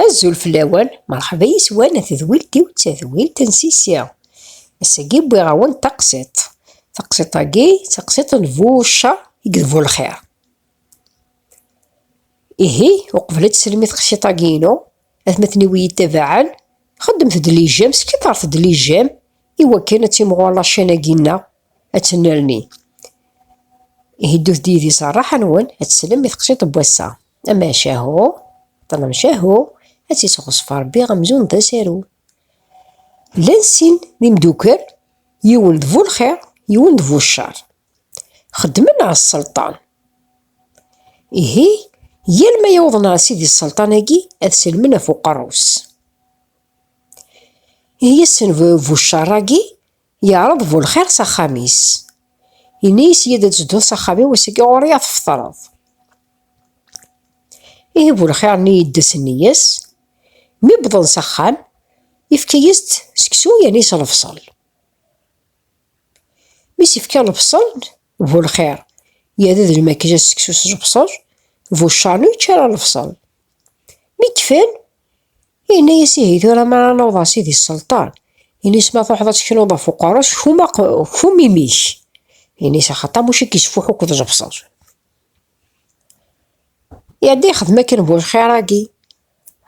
Azul fell-awen, merḥba yes-wen a tedwilt-iw d tadwilt n Sisi. Ass-agi wwiɣ-awen-d taqsiḍt. Taqsiḍt-agi d taqsiḍt n bu ccer i d bu lxir. Ihi, uqbel ad teslem i tqsiḍt-agi-inu, atmaten-iw iyi-ttabaɛen, xeddemet-d lijam, skiṭret-d lijam, i wakken ad timɣur laččan-agi-nneɣ, ad tennerni. Ihi ddut-d yid-i s rraḥa-nwen, ad teslem i taqsiḍt n wass-a. Amacahu, ṭṭlemcahu, ad tt-isɣeṣṣef Ṛebbi amzun d asaru. Llan sin d imdukkal, yiwen d bu lxiṛ, yiwen d bu cceṛ. Xeddmen ɣer sselṭan. Ihi, yal ma yawḍen ɣer sidi sselṭan-agi, ad sellmen ɣef uqerru-s. Ihi assen bu cceṛ-agi, Yeɛreḍ bu lxir s axxam-is. Yenna-yas yya-d ad tedduḍ s axxam-iw ass-agi ɣur-i ad tfeṭreḍ. Ihi bu lxir-nni yedda s nniya-s, mi wwḍen s axxam yefka-yas-d seksu yerna s lebṣel. Mi s-yefka lebṣel bu lxir yerra d lmakla s seksu s lebṣel, bu ccarnu yečča ara lebṣel. Mi kfan Yenna-yas ihi tura mi ara naweḍ ɣer Sidi Sselṭan, ini-s ma truḥeḍ ad teknuḍ ɣef uqerru-s kfum imi-k, ini-s axaṭer Muca i k-isfuḥ akk tẓebseḍ. Iɛedda yexdem akken bu lxir-agi.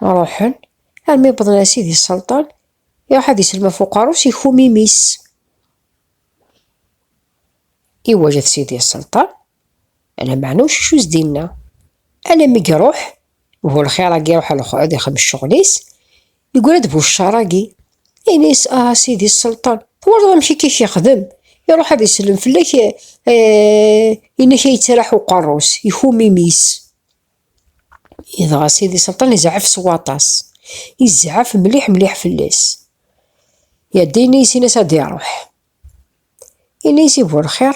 Ruḥen, armi wwḍen ɣer Sidi Sselṭan, iruḥ ad isellem ɣef uqerru-s ikfum imi-s. Iwajet Sidi Sselṭan, Ala meɛna ur ccucuz dinna. Ala mi iruḥ, bu lxir-agi iruḥ a lexɛud ixem ccɣel-is, yegra-d bu ccar-agi, ini-as, ah a sidi sselṭan, twalaḍ amek i k-ixdem, iruḥ ad isellem fell-ak, eh, ini-k a yettraḥ uqerru-s, ikum imi-s. Idɣa sidi sselṭan izɛef s waṭas, izɛef mliḥ mliḥ fell-as. Yadda ini-as, ini-as ad iruḥ. Ini-as i bu lxir,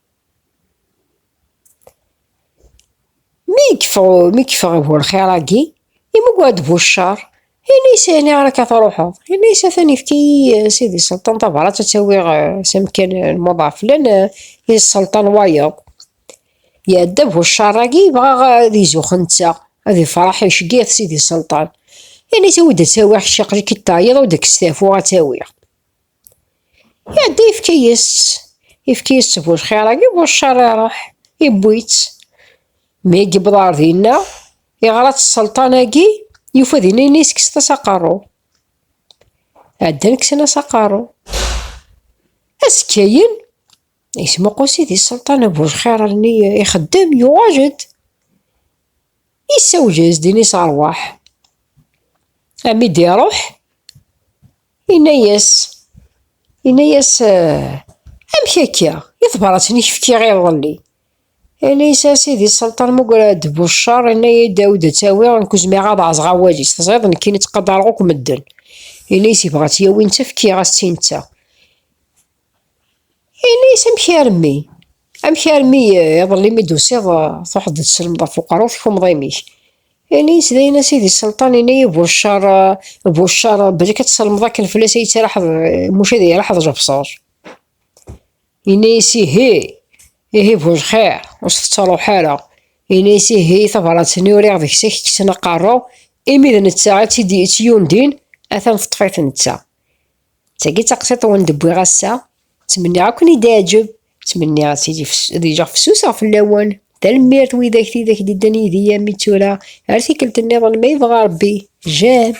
Mi yeffeɣ uburxiṛ-agi, imugger-d bu cceṛ, yenna-yas, Ɛni ɣer-k ara truḥeḍ? Yenna-yas, Atan yefka-yi Sidi Selṭan tabṛat ad tt-awiɣ s amkan n Muḍɛaf, llan iselṭan wayeḍ. Iɛedda bu cceṛ-agi, yebɣa ad izuxx netta, ad ifṛeḥ, iceggeɛ-it Sidi Selṭan. Yenna-yas, Awi-d ad tt-awiɣ, kečč aql-ik-id teɛyiḍ, awi-d ad k-stafuɣ ad tt-awiɣ. Iɛedda yefka-yas-tt. Yefka-yas-tt bu lxir agi bu ccer iruḥ, yewwi-tt. Mi i yewweḍ ɣer dinna, iɣra-tt sselṭan-agi, yufa dinna ina yeskset-as aqerru. Ɛeddan kksen-as aqerru. Azekka-yen, yesmuqul sidi sselṭan bu lxir almi ixeddem, yuɣal-d. Yessawel-as dinna i s ṛwaḥ. Ami d-iruḥ, Inna-yas, inna-yas, amek akka, i tebrat-nni i k-fkiɣ iḍelli? Inna-yas, a sidi sselṭan, mugger-d bu cceṛ, inna-yi Dawed ad tt-awiɣ, nekk ur zmireɣ ad ɛazeɣ awal-is, teẓriḍ nekkini ttqadareɣ akk medden. Inna-yas, yebɣa ad tt-yawi netta, fkiɣ-as-tt i netta. Ini-as amek armi, amek armi eh, iḍelli mi d-tusiḍ eh, truḥeḍ d-tselmeḍ ɣef uqerru tkummeḍ imi-k. Ini-as dayen a sidi sselṭan, ini-yi buccar, eh, buccar, belk ad tselmeḍ akken fell-as ay yettaraḥeḍ, muc ad yaraḥeḍ lebṣer. Ini-as ihi, ihi bu lxir, ur s-tettaruḥ ara. Ini-as ihi tabrat-nni uriɣ deg-s ak kksen aqerru, imi d netta i tt-yundin, atan teṭṭef-it netta. D tagi d taqsiṭ i wen-d-wwiɣ ass-a. Ttmenniɣ ad ken-id-iɛǧeb. Ttmenniɣ ad tili ad iliɣ fessuseɣ fell-awen. Tanemmirt widak tidak d-iddan yid-i armi d tura. Ar tikkelt-nniḍen ma yebɣa Rebbi. Jane.